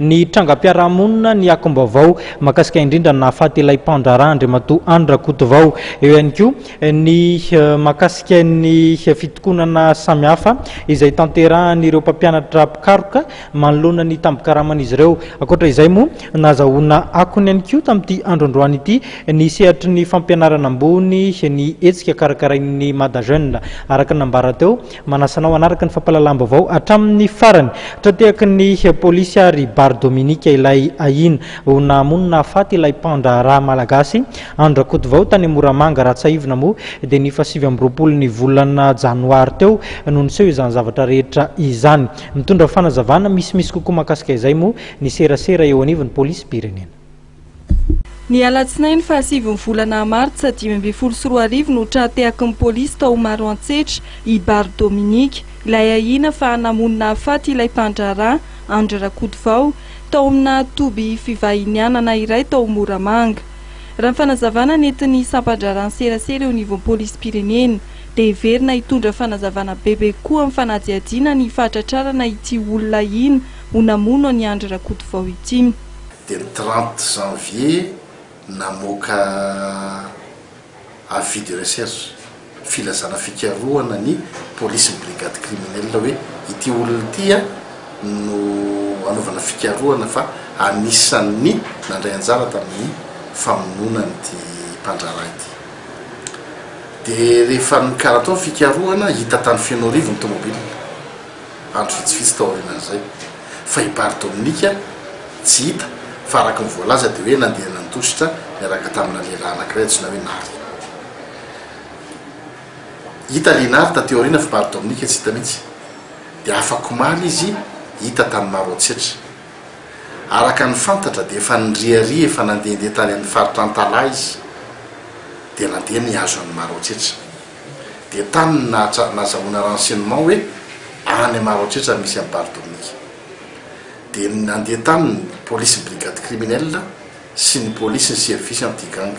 Ny trangam-piarahamonina, ny akom-baovao mahakasika indrindra ny nahafaty ilay mpandraharaha Andriamatoa Andry Rakotovao. Eo ihany koa ny mahakasika ny fitokonana samihafa izay tanterahan'ireo mpampianatra mpikaroka manoloana ny tambin-karaman'izy ireo. Ankoatra izay moa, nahazahoana akony ihany koa tamin'ity andro androany ity ny sehatry ny fampianarana ambony ny hetsika karakarain'ny Mada Jeune, araka ny nambara teo. Manasa anao hanaraka ny fampahalalam-baovao hatramin'ny farany. Tra-tehaky ny polisy ary Bary Dominique ilay ahiana ho nahamono nahafaty ilay mpandraharaha malagasy Andry Rakotovao tany Moramanga. Raha tsiahivina moa dia ny fahasivy amby roapolo ny volana janoary teo no niseho izany zavatra rehetra izany. Mitondra fanazavana misimisy kokoa mahakasika izay moa ny serasera eo anivon'ny polisim-pirenena. Ny alatsinainy faha sivy ny volana martsa dimy ambin'ny folo sy roa arivo no tra-tehaky ny polisy tao Maroantsetra i Bary Dominique, ilay ahiana fa namono nahafaty ilay mpandraharaha, Andry Rakotovao, tao amina toby fivahinianana iray tao Moramanga. Raha ny fanazavana nentin'ny sampan-draharahan'ny serasera eo anivon'ny polisim-pirenena, dia heverina hitondra fanazavana bebe kokoa amin'ny fanadihadiana ny fahatratrarana ity olona ahiana ho namono an'i Andry Rakotovao ity. dia ny trente janvier namoaka avis de recherche, filazana fikarohana, ny polisin'ny brigade criminelle hoe ity olona ity no hanaovana fikarohana fa anisan'ny nandray anjara tamin'ny famonoana an'ity mpandraharaha ity. Dia rehefa nikaratao ny fikarohana, hita tany Fenoarivo ny tomobilina. andro vitsivitsy taorianan'izay, fa i Bary Dominika tsy hita fa araka ny voalaza dia hoe nandeha nandositra niaraka tamina lehilahy anankiray antsoina hoe Nary. Hita ilay Nary taty aoriana fa Bary Dominika tsy hita mihitsy, dia afak'omaly izy hita tamin'ny maro antsetra. Araka ny fantatra dia efa niriaria efa nandehandeha tany amin'ny faritra Antalaha izy dia nandeha nihazo an'i Maro antsetra. dia tany no nahatsar nazahoana renseignement hoe any Maroantsetra misy an'i Bary Dominique. Dia nandeha tany ny polisin'ny brigade criminelle sy ny polisin'ny service anti gang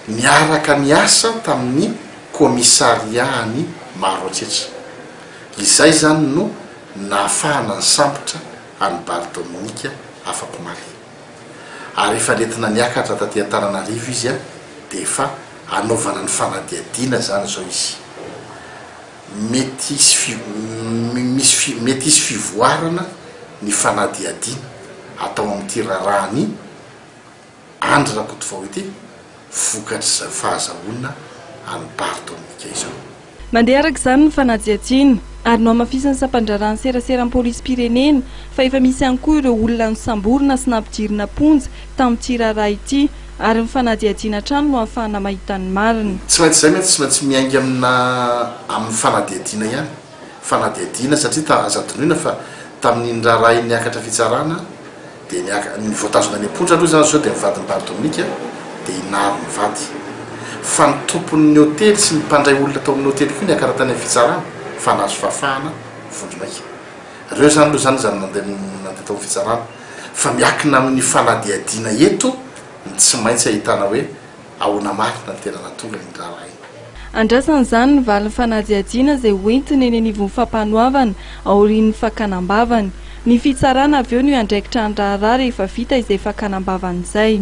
niaraka niasa tamin'ny commissariat-n'i Maroantsetra. Izay izany no nahafahana nisambotra an'i Bary Dominique afakomaly. ary efa nentina niakatra taty Antananarivo izy dia efa anaovana ny fanadihadiana izany izao izy. Mety hisy mety hisy fivoarana ny fanadihadiana atao amin'ity raharahan'i Andry Rakotovao ity vokatr'izao fahazahoana an'i Bary Dominika izao. Mandeha araka izany ny fanajiajiana, ary nohamafisin'ny sampandraharahan'ny seraseran'ny polisim-pirenena fa efa misy ihany koa ireo olona nosamborina sy nampidirina am-ponja tamin'ity raharaha ity, ary ny fanadihadiana hatrany no ahafahana mahita ny marina. Tsy maintsy izay mantsy, tsy maintsy miainga amina amin'ny fanadihadiana ihany, fanadihadiana satria ta aza adinoina fa tamin'iny raharaha iny niakatra fitsarana, Dia niaka, ny voatazona any am-ponja aloha izany zao dia ny vadin'i Bar Dominika dia i Nary mivady. Fa ny tompon'ny hotely sy ny mpandray olona tao amin'ny hotely koa niakara tany amin'ny fitsarana fa nahazo fahafahana vondromaika. Reo zany aloha zany zany nandeha nandeha tao amin'ny fitsarana. Fa miakina amin'ny fanadihadiana eto ny tsy maintsy ahitana hoe Ahoana marina no tena nahatonga iny raharaha iny? Andrasana izany ny valin'ny fanajiajiana izay hoentiny eny anivon'ny fampanoavana aorian'ny fakana am-bavany. Ny fitsarana avy eo no hiandraikitra ny raharaha rehefa vita izay fakana am-bavany izay.